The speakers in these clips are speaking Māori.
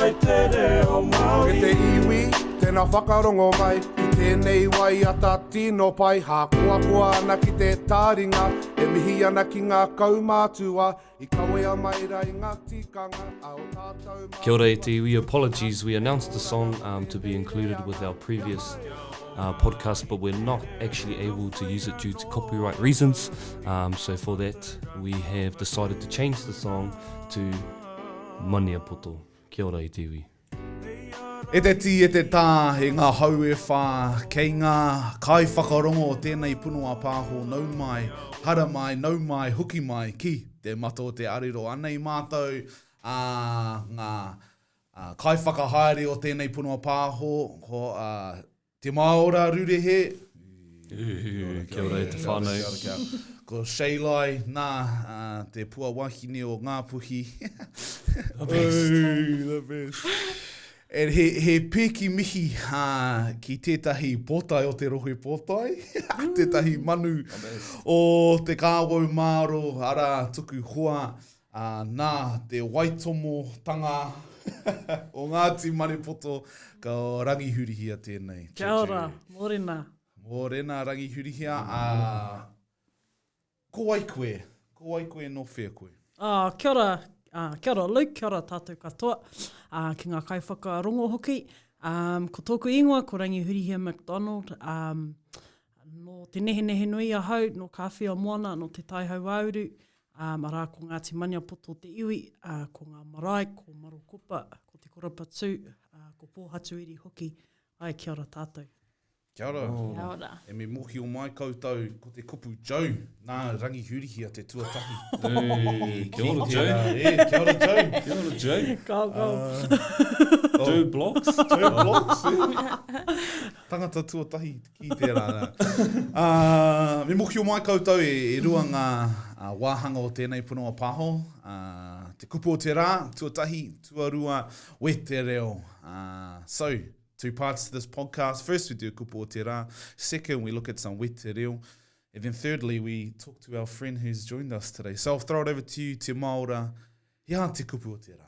mai te reo Māori. E te iwi, tēnā whakarongo mai i tēnei waiata tino pai hākoakoa ana ki te tāringa e mihi ana ki ngā kaumātua i kawea mai rā i ngā tikanga a o tātou mātua. Kia ora e te iwi, apologies we announced the song um to be included with our previous uh podcast but we're not actually able to use it due to copyright reasons um so for that we have decided to change the song to Maniapoto. Kia ora e te iwi. E te tī, e te tā, e ngā hau e whā, kei ngā kaiwhakarongo o tēnei puno a Pāho nau mai, hara mai, nau mai, hoki mai ki te mata o te arero. Anei mātou, ā, ngā kaiwhakahaere o tēnei puno a Pāho, ko, ā, Te Maora Rurehe. Kia ora e te whanau. Ko Shaylai, na, te pua wahine o Ngapuhi. The best. The best. And he, he pēki mihi ha, ki tētahi pōtae o te rohe pōtae, tētahi manu o te kāwau māro, ara tuku hoa, Ā, nā te waitomotanga o Ngāti Maniapoto ka rangihurihia tēnei. Kia ora, mōrena. Mōrena, rangihurihia. Ā, ko wai koe? Ko wai koe, nō whea koe? Ā, kia ora, ā, kia ora Luke, kia ora tātou katoa, ā, ki ngā kaiwhakarongo hoki. Ā, ko tōku ingoa ko Rangihurihia McDonald, ā, nō Te Nehenehenui ahau, nō Kāwhiamoana, nō Te Tai Hauāuru, Ā, arā, ko Ngāti Maniapoto te iwi, ā, ko ngā marae, ko Marokopa, ko Te Korapatū, ā, ko Pōhatuiri hoki. Ae, kia ora tātou. Kia ora. Kia ora. E me mokio mai koutou ko te kupu Joe na Rangi Hurihia te tuatahi. Hey, kia ora Joe. E, kia ora Joe. Kia ora Joe. Go go. Uh, Joe Blocks. Joe Blocks. Tangata tuatahi Ki tērā. Ā, me mōhio mai koutou e rua ngā wāhanga o tēnei punonga pāho, ā, te kupu o te rā, tuatahi, tuarua, wetereo. Ā, so, two parts to this podcast. First we do kupu o te rā. Second, we look at some wetereo. And then thirdly, we talk to our friend who's joined us today. So I'll throw it over to you, Te Maora, He aha te kupu o tērā?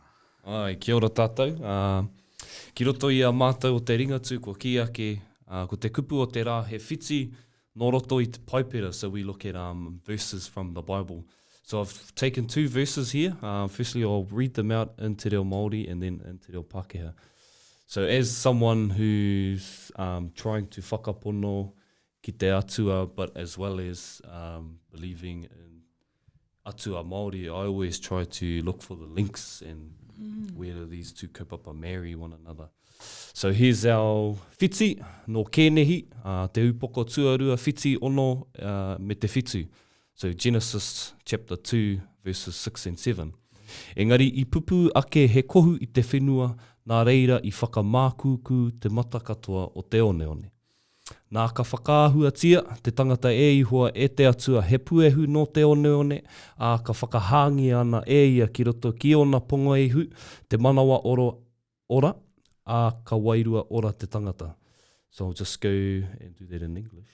Āe, kia ora tātou. Ki roto i a mātou o te Ringatū kua kī ake, ko te kupu o te rā he whiti nō roto i te Paipera, so we look at verses from the Bible. So I've taken two verses here, firstly I'll read them out in te reo Māori and then in te reo Pākehā. So as someone who's um, trying to whakapono ki te Atua but as well as um, believing in atua Māori, I always try to look for the links and mm. where do these two kaupapa marry one another. So here's our whiti, no Kēnehi, uh, te upoko tuarua, whiti ono uh, me te whitu. So Genesis chapter 2 verses 6 and 7. Engari i pupu ake he kohu i te whenua, nā reira i whakamākūkū te mata katoa o te oneone. Nā, ka whakaahuatia te tangata e Ihoa, e te Atua, he puehu nō te oneone, ā, ka whakahāngia ana e ia ki roto ki ōna pongoehu, te manawa oro, ora, ā, ka wairua ora te tangata. So I'll just go and do that in English.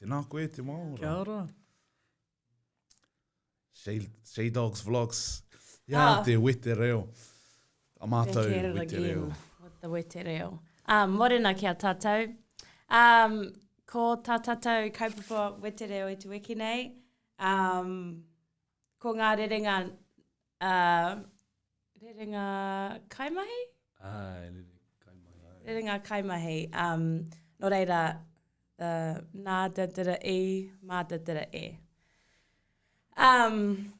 Tēnā koe, te wā ora. Kia ora. Shay, Shay Dogs Vlogs. Ia ah. te wete reo. A mātou wete reo. With the wete reo. Ah, morena ki a tātou. Um, ko tā tātou kaupapa wete reo i tu wiki nei. Um, ko ngā rerenga Uh, rerenga kaimahi? Ah, rerenga kaimahi. Um, no reira, the nā te tira i, mā te tira e. Um,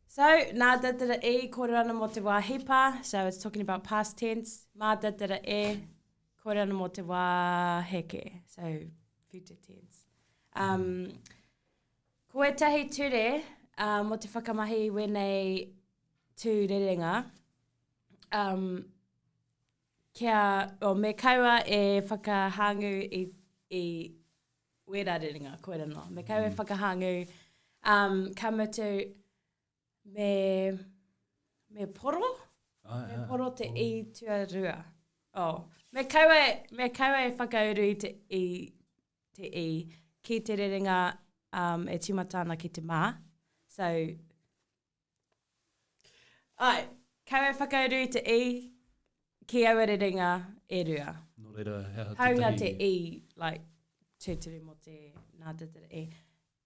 so, nā te tira i, kōrero ana mō te wā hipa, so it's talking about past tense, mā te tira e, kōrero ana mō te wā heke, so future tense. Um, Ko ētahi ture uh, mō te whakamahi i wēnei tū rerenga, um, kia, o, me kaua e whakahāngu i, i wērā rerenga, koe rano. Me kaua e mm. whakahāngu, um, ka mutu me, me poro, ah, me poro te oh. i tuarua. Oh. Me kaua, me kaua e whakauru i te, i, te i, ki te rerenga um, e timata ana ki te mā. So, ai, kau e whakauru i te i, ki aua rerenga e rua. Nō reira, he aha tētahi... Haunga te i, like, tūturu mō te nā te tere e.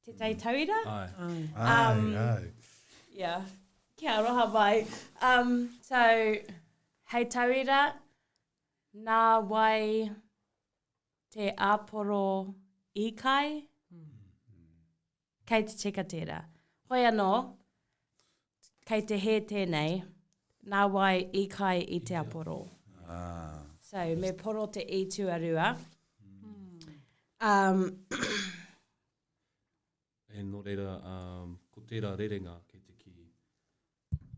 Tētahi mm. tauira? Ai. Ai, um, ai. ai. Yeah. Kia aroha mai. Um, so, hei tauira, nā wai Te Aporo Ikai? Kei te cheka tērā. Hoi anō, kei te hē tēnei, nā wai ikai i te aporo. Ah. So, me poro te i tuarua. Um, E no reira ko tera rerenga kei te ki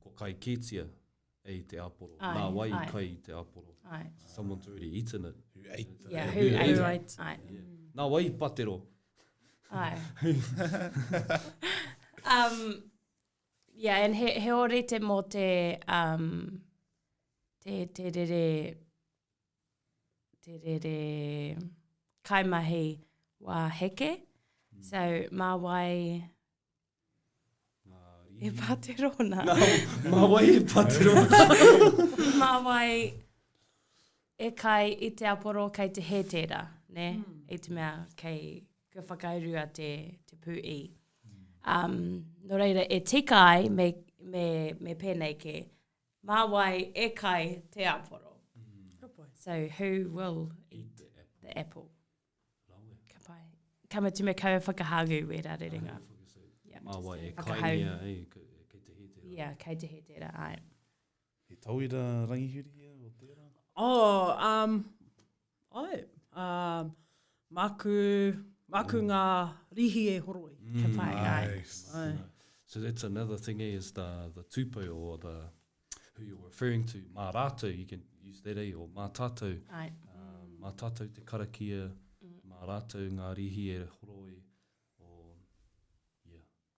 ko kai kitia e i te aporo, na wai i kai i te aporo. Someone's already eaten it. Who ate it. Yeah, who ate it. Who ate it. Yeah. Na wai i patero. Ai. um, yeah, and he, he orete mo te, um, te, te rere, te rere kaimahi wā heke. Mm. So, mā wai e pātero na. No, mā wai e pātero. mā wai e kai i te aporo kei te he tēra, ne? Mm. I te mea kei kua whakaurua te, te pū i. Um, no reira, e tika ai me, me, me pēnei ke Mā wai e kai te aporo? So who will eat the apple? Ka pai. Ka mutu me kaua whakahāgu wērā rerenga. Mā wai e kaingia, kei te hē tērā. Yeah, kei te hē tērā, āe. He tauira rangihiri ia o tērā? Oh, um, Ae, a, maku, maku nga rihi e horoi. Kia pai, ae. Ae. So that's another thing eh, is the, the tupe or the, who you're referring to, ma ratou, you can use that eh, or ma tatou. Ae. Um, ma tatou te karakia, mm. ma ratou nga rihi e horoi.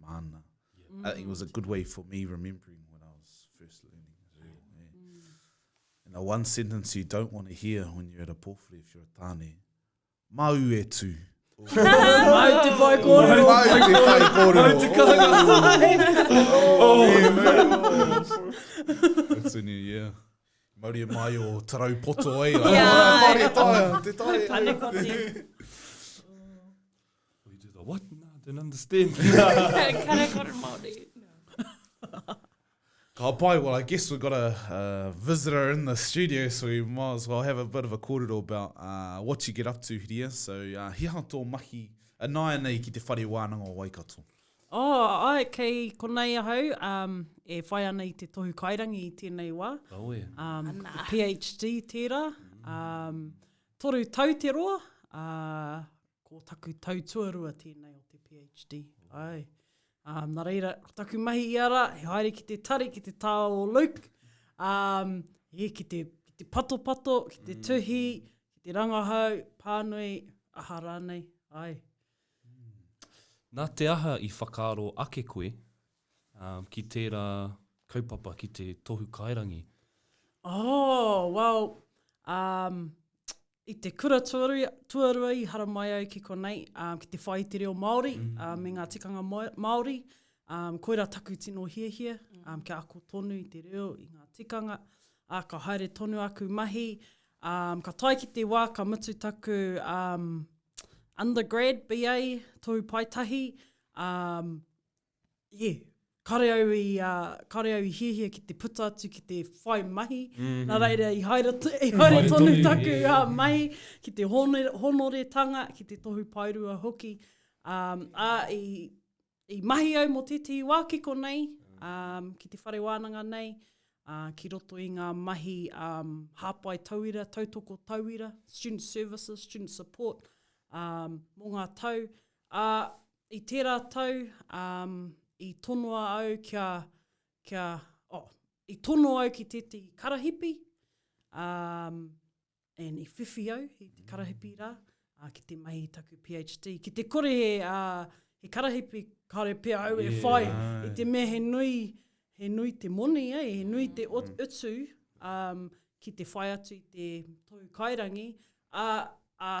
māna. Yeah. Uh, it was a good way for me remembering when I was first learning as well. Yeah. Yeah. Mm. And the one sentence you don't want to hear when you're at a pōwhiri if you're a tāne, māu e tū. Māu te whai kōrero. Māu te whai kōrero. Māu te kāga. Oh, man. That's a new year. Mauri e mai o tarau poto ai. Yeah. Māu te tāia. Te tāia. Pane koti. Will you do the what? No, I don't understand. Kare kore Māori. Ka pai, well, I guess we've got a, a visitor in the studio, so we might as well have a bit of a kōrero about uh, what you get up to, Hiria. So, uh, he aha tō mahi a uh, nāia nei ki te whare wānanga o Waikato? Oh, ai, kei konei ahau, um, e whai ana i te tohu kairangi i tēnei wā. Oh, yeah. um, Ana. PhD tērā. Um, toru tau te roa, uh, ko taku tau tuarua tēnei o te PhD. Ai. Um, nā reira, ko taku mahi i ara, he haere ki te tari, ki te tāo o Luke, um, e, ki, te, ki te patopato, ki te mm. tuhi, ki te rangahau, pānui, aha rānei, ai. Mm. Nā te aha i whakaaro ake koe um, ki tērā kaupapa, ki te tohu kairangi? Oh, well, um, I te kura tuarua i haramai au ki konei, ki te whai i te reo Māori me ngā tikanga Māori, koirā taku tino hiahia, kia ako tonu i te reo, i ngā tikanga, ka haere tonu aku mahi, ka tae ki te wā ka mutu taku undergrad, BA, Tohu Paetahi, yeah, kare au i, uh, kare au i hiahia ki te puta atu, ki te whai mahi, mm -hmm. nā reira i haere, i haere tonu, tonu taku yeah, yeah. Uh, mahi, ki te honore, honoretanga, ki te tohu paerua hoki. Um, a, i, i mahi au mō tētahi wā ki konei, um, ki te whare wānanga nei, uh, ki roto i ngā mahi um, hāpai tauira, tautoko tauira, student services, student support, um, mō ngā tau. Uh, I tērā tau, um, i tonoa au kia, kia, oh, i tono au ki tētahi karahipi, um, and i whiwhi au i te karahipi rā, uh, ki te mahi taku PhD. Ki te kore he, uh, he karahipi, kāre pia au yeah. e whai, i te mea he nui, he nui te moni, eh? he nui te mm. utu um, ki te whai atu i te tōu kairangi, a, a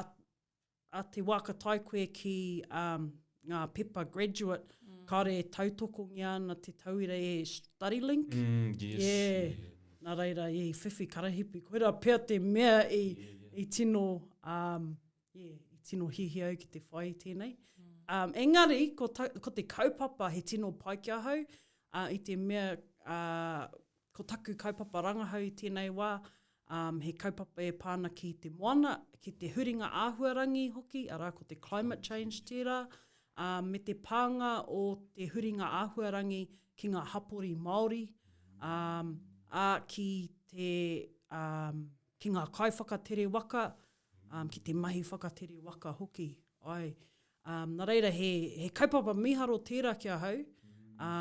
a te wā ka tae koe ki um, ngā pepa graduate, mm. kāre e tautokongia ana te tauira e study link. Mm, yes, yeah. yeah. Nā reira, i whiwhi karahipi, koira pia te mea i, yeah, yeah. i tino, um, yeah, i tino hihi au ki te whai tēnei. Mm. Um, engari, ko, ta, ko te kaupapa he tino pai ki ahau, uh, i te mea uh, Ko taku kaupapa rangahau i tēnei wā, um, he kaupapa e pā ana ki te moana, ki te huringa āhuarangi hoki, arā ko te climate change tērā, ā, me te pānga o te huringa āhuarangi ki ngā hapori Māori, ā, ā ki te, ā, ki ngā kaiwhakatere waka, ā, ki te mahi whakatere waka hoki. Ai, ā, nā reira he, he kaupapa mīharo tērā ki ahau, ā,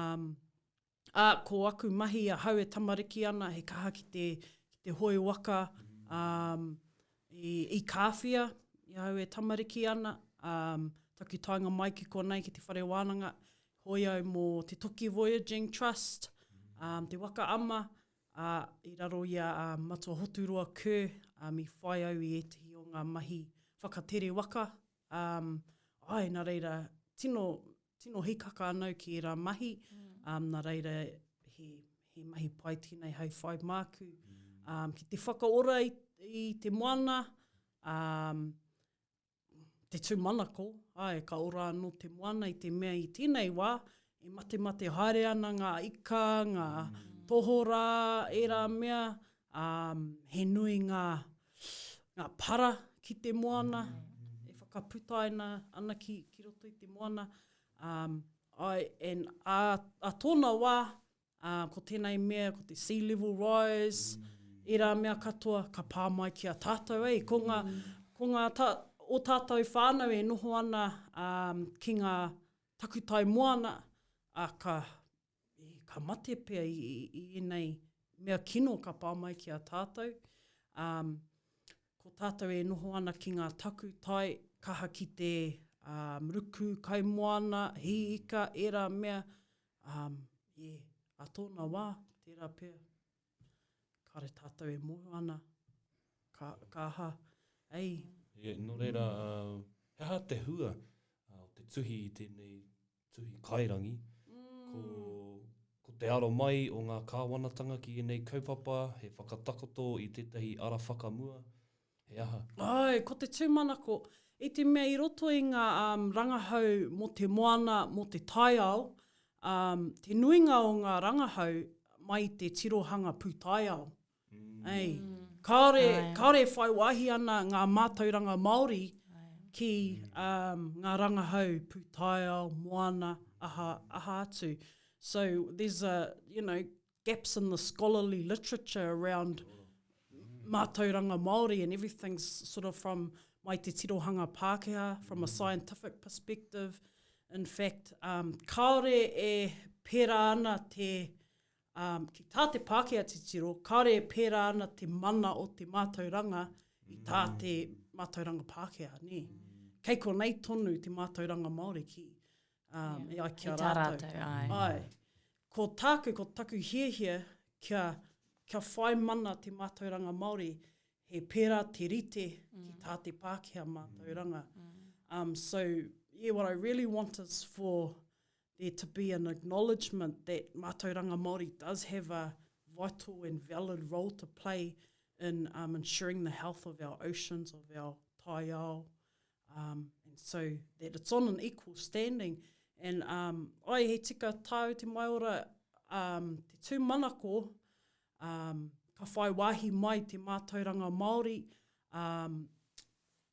ā, ko aku mahi ahau e tamariki ana, he kaha ki te, ki te hoe waka um, i, i Kāwhia, i ahau e tamariki ana, um, taku taenga mai ki konei ki te whare wānanga, hoi au mō te Toki Voyaging Trust, um, te waka ama, a, i raro i a um, Matua Hoturoa Kerr, um, i whai au i ētahi o ngā mahi whakatere waka. Um, ai, nā reira, tino, tino hikaka anau ki ērā mahi, um, nā reira he, he mahi pai tēnei hai whai māku. Um, ki te whakaora i, i te moana, um, te tūmanako, ai, ka ora anō te moana i te mea i tēnei wā, e mate mate haere ana ngā ika, ngā mm. tohora, ērā mea, Ā, he nui ngā, ngā para ki te moana e whakaputaina ana ki, ki roto i te moana. Ā, I, and, ā, ā tōna wā, ā, ko tēnei mea, ko te sea level rise, ērā mea katoa, ka pā mai ki a tātou, ei, ko ngā, ko ngā tā, o tātou whānau e noho ana, ā, ki ngā takutai moana, ā, ka, ka mate pea i, i, i enei mea kino ka pā mai ki a tātou. Um, ko tātou e noho ana ki ngā taku tai, kaha ki te um, ruku, kaimoana, hi ika, era mea, um, yeah, a tōna wā, tērā pea. Kāre tātou e mōhio ana, ka, ka aha, ei. Yeah, nō reira, uh, he aha te hua uh, o te tuhi i tēnei tuhi kairangi, ko, ko te aro mai o ngā kāwanatanga ki ēnei kaupapa, he whakatakoto i tētahi ara whakamua, he aha? Āe, ko te tūmanako, i te mea i roto i ngā um, rangahau mō te moana, mō te taiao, um, te nuinga o ngā rangahau mai i te tirohanga pūtaiao. Kāore, kāore e whai wāhi ana ngā mātauranga Māori ki ngā rangahau pūtaiao, moana, aha, aha atu. So, there's a, you know, gaps in the scholarly literature around mātauranga Māori and everything's sort of from mai te tirohanga Pākehā, from a scientific perspective. In fact, um, kāore e pērā ana te ā, ki tā te Pākehā titiro, kāore e pērā ana te mana o te mātauranga i tā te mātauranga Pākehā, nē. Kei konei tonu te mātauranga Māori ki, ā, e ai ki a rātou. Āe. Ko tāku, ko taku hiahia kia, kia whai mana te mātauranga Māori, he pērā te rite ki tā te Pākehā mātauranga. So, yeah, what I really want is for there to be an acknowledgement that Mātauranga Māori does have a vital and valid role to play in um, ensuring the health of our oceans, of our taiao, um, and so that it's on an equal standing. And um, ai, he tika tāu te maiora, um, te tūmanako, um, ka whai wāhi mai te mātauranga Māori, um,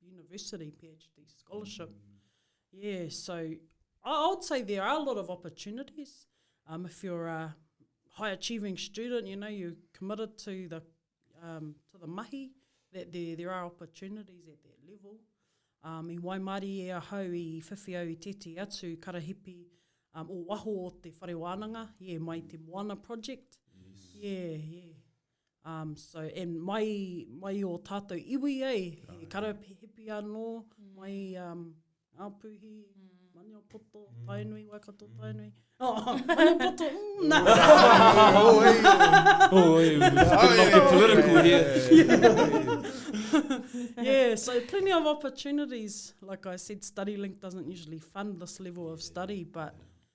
university PhD scholarship. Mm. Yeah, so I would say there are a lot of opportunities. Um, if you're a high achieving student, you know, you're committed to the um, to the mahi, that there, there are opportunities at that level. Um, I waimari e ahau i whiwhi au i tēti atu karahipi um, o waho o te whare wānanga, yeah, mai te Moana project. Yes. Yeah, yeah. Um, so, and mai, mai o tātou iwi, eh, oh, he karahipi anō, mm. mai um, Ngāpuhi, mm. Maniapoto, mm. Tainui, Waikato, mm. Tainui. Oh, Maniapoto, mm, na. Oh, hey, oh, hey, we're not get political here. yeah, so plenty of opportunities. Like I said, StudyLink doesn't usually fund this level of study, but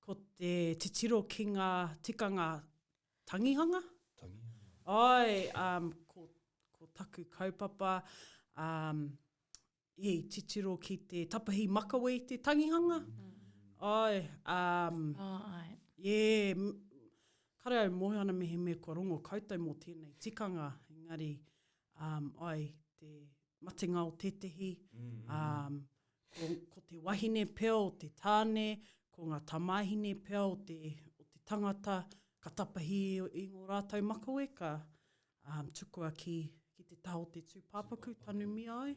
Ko te titiro ki ngā tikanga tangihanga. Tangihanga. Āe, um, ko, ko taku kaupapa, um, i titiro ki te tapahi makawe i te tangihanga. Mm. Āe, um, oh, ai. Yeah, kare au mōhio ana mehemea kua rongo koutou mō tēnei tikanga, engari, um, ai, te, matenga o tētehi, um, ko, ko te wahine pea o te tāne, ko ngā tamāhine pea o te, o te tangata, ka tapahi i ngō rātou makaweka, um, tukua ki, ki te taha o te tūpāpaku, tanumia ai.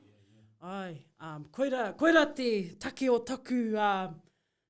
Ai, um, koira, koira te take o taku, uh,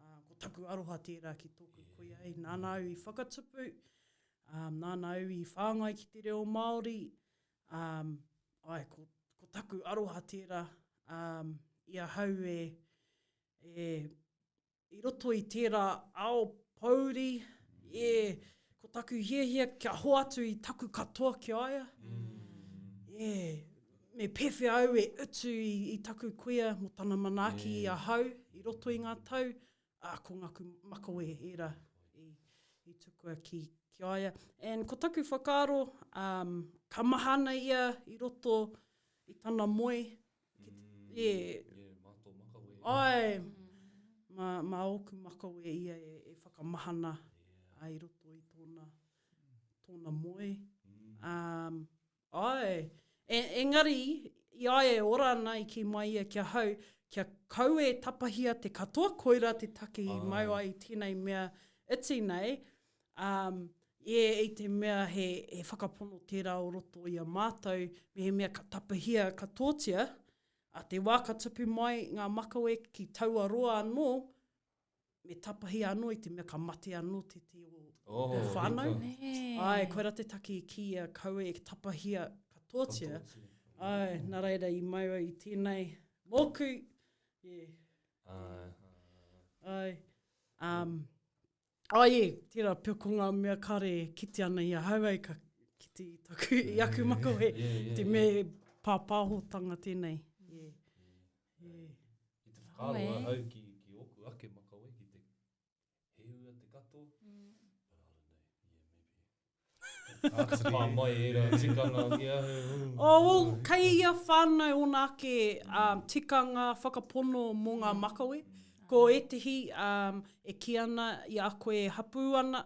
ā, ko taku aroha tērā ki tōku kuia e, nāna au i whakatupu, ā, nāna au i whāngai ki te reo Māori, ā, āe, ko, ko taku aroha tērā, ā, i ahau e, e, i roto i tērā ao pōuri, e, ko taku hiahia kia hoatu i taku katoa ki a ia, e, Me pēwhea au e utu i, i taku kuia mō tana manaaki i ahau i roto i ngā tau, ā, ko ngāku makawe ērā i, i tukua ki, ki a ia. And ko taku whakaaro, um, ka maha ana ia i roto i tana moe, ki te, yeah. Yeah, mā tō makawe. Ai, mā, mā ōku makawe ia e, e whakamahana yeah. i roto i tōna, tōna moe. Um, Āe. E, engari, i a e ora ana i kī mai ia ki ahau, kia kau e tapahia te katoa koira te take i mau ai i tēnei mea iti nei, ā, e, i te mea he, he whakapono tērā o roto i a mātou, mehemea ka tapahia katoatia, ā, te wā ka tupu mai ngā makawe ki taua roa anō, me tapahia anō i te mea ka mate anō te te o oh, te whānau. Ai, koe ra te taki i ki a kaua e tapahia katoatia. Ai, nā reira i mai au i tēnei mōku. Yeah. Ai. Ai. Um, oh, yeah, tērā pio ko ngā mea kare kite ana i a hau ai ka kite i taku, i aku makawe, yeah, yeah, yeah, te yeah. me pāpāhotanga tēnei. Ki te whakaaro ahau ki oku ake makawe, ki te he ua te katoa, Pā mai e rā tikanga ki ahau. Oh, kei ia whānau ōna ake tikanga whakapono mō ngā makawe. Ko ētehi e kī ana i a koe e hapū ana,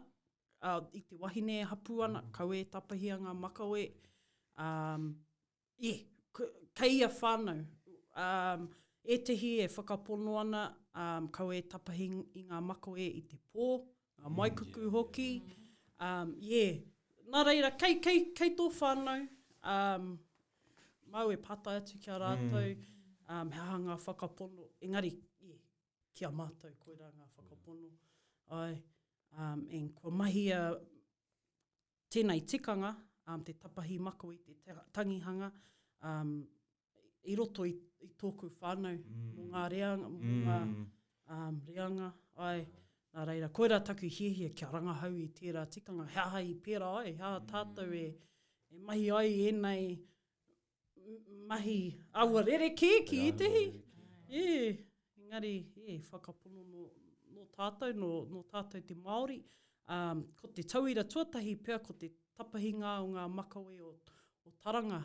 i te wahine e hapū ana, kaua e tapahia ngā makawe. I, kei ia whānau, um, ētehi e whakapono ana, um, kaua e tapahi i ngā makoe i te pō, ngā maikuku mm, hoki. Um, yeah. Nā reira, kei, kei, kei tō whānau, um, mau e pātai atu ki a rātou, mm. um, he aha ngā whakapono, engari, yeah, ki a mātou, koirā ngā whakapono. Ai, um, and kua mahi a, tēnei tikanga, te tapahi mako i te tangihanga, i roto i tōku whānau, mō ngā reanga, mō ngā reanga, āe, nā reira, koirā taku hiahia kia rangahau i tērā tikanga, he aha i pērā ai, he aha tātou e mahi ai ēnei mahi aua rerekē ki ētehi. Ē, engari, ē, whakapono nō, nō tātou, nō, nō tātou te Māori, ā, ko te tauira tuatahi pea ko te tapahinga o ngā makawe o, o Taranga.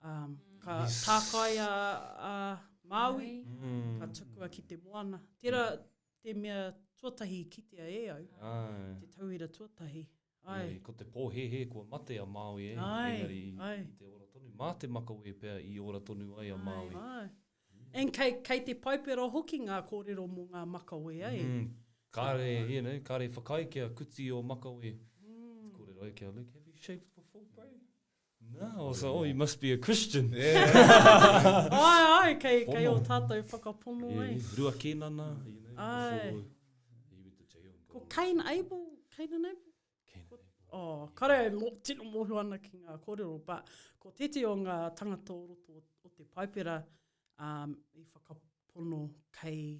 Ā, ka yes. tākaia a Māui, mm. ka tukua ki te moana. Tērā te mea tuatahi kitea e au, Ai. te tauira tuatahi. Engari, ko te pōhēhē kua mate a Māui e, engari i te ora tonu, mā te makawe pea i ora tonu ai a Māui. And kei, kei te Paipera hoki ngā kōrero mō ngā makawe ai. Mm, kāre, you know, kāre whakaae kia kuti ō makawe. Kōrero ai ki a Luke, have you shaved before, bro? Nā, o sa, oh, you must be a Christian. Ai, ai, kei, kei o tātou whakapono, yeah, ei. Yeah. Rua Kēnana, you know, Ai. before he went to jail. Ko Cain Abel, Cain and Abel? Cain and Abel. Oh, kare, mo, tino mōhio ana ki ngā kōrero, but ko tēti o ngā tangata o roto o te Paipera um, i whakapono kei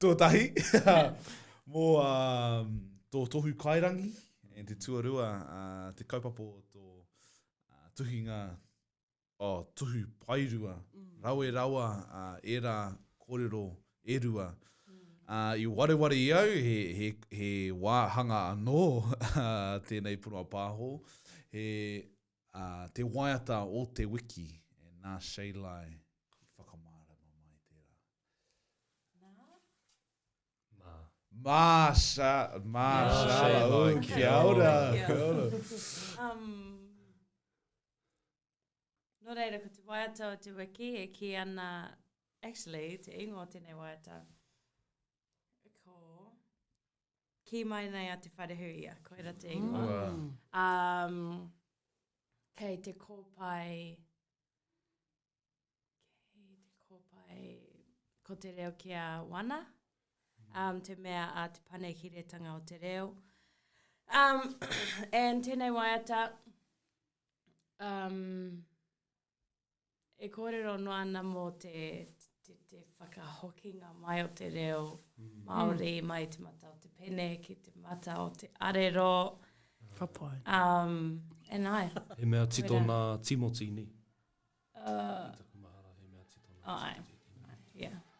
Tuatahi, mō um, tō tohu kairangi, and te tuarua, uh, te kaupapa o tō uh, tuhinga, oh, tuhu pairua, mm. rawe rawa uh, era kōrero e rua. Uh, I wareware i au, he, he, he wāhanga anō tēnei punoa pāho, he Ā, te waiata o te wiki, e nā Shaylai i whakamārama mai tērā. Nā? Mā. Mā Sha, mā Shaylai, oh, kia ora, kia ora. Um, nō reira, ko te waiata o te wiki e kī ana, actually, te ingoa o tēnei waiata, kī mai nei a Te Wharehuia, koira te ingoa. Mm. Um, kei te kōpai, kei te kōpai, ko te reo ki a wana, um, te mea a te panekiretanga o te reo. Um, and tēnei waiata, um, e kōrero noa ana mō te, te, te whakahokinga mai o te reo mm. Māori, mm. mai te mata o te pene, ki te mata o te arero. Papai. Um, and I. He mea tito nā Timoti, ni? Uh, he mea tito nā Timoti. Ai, yeah.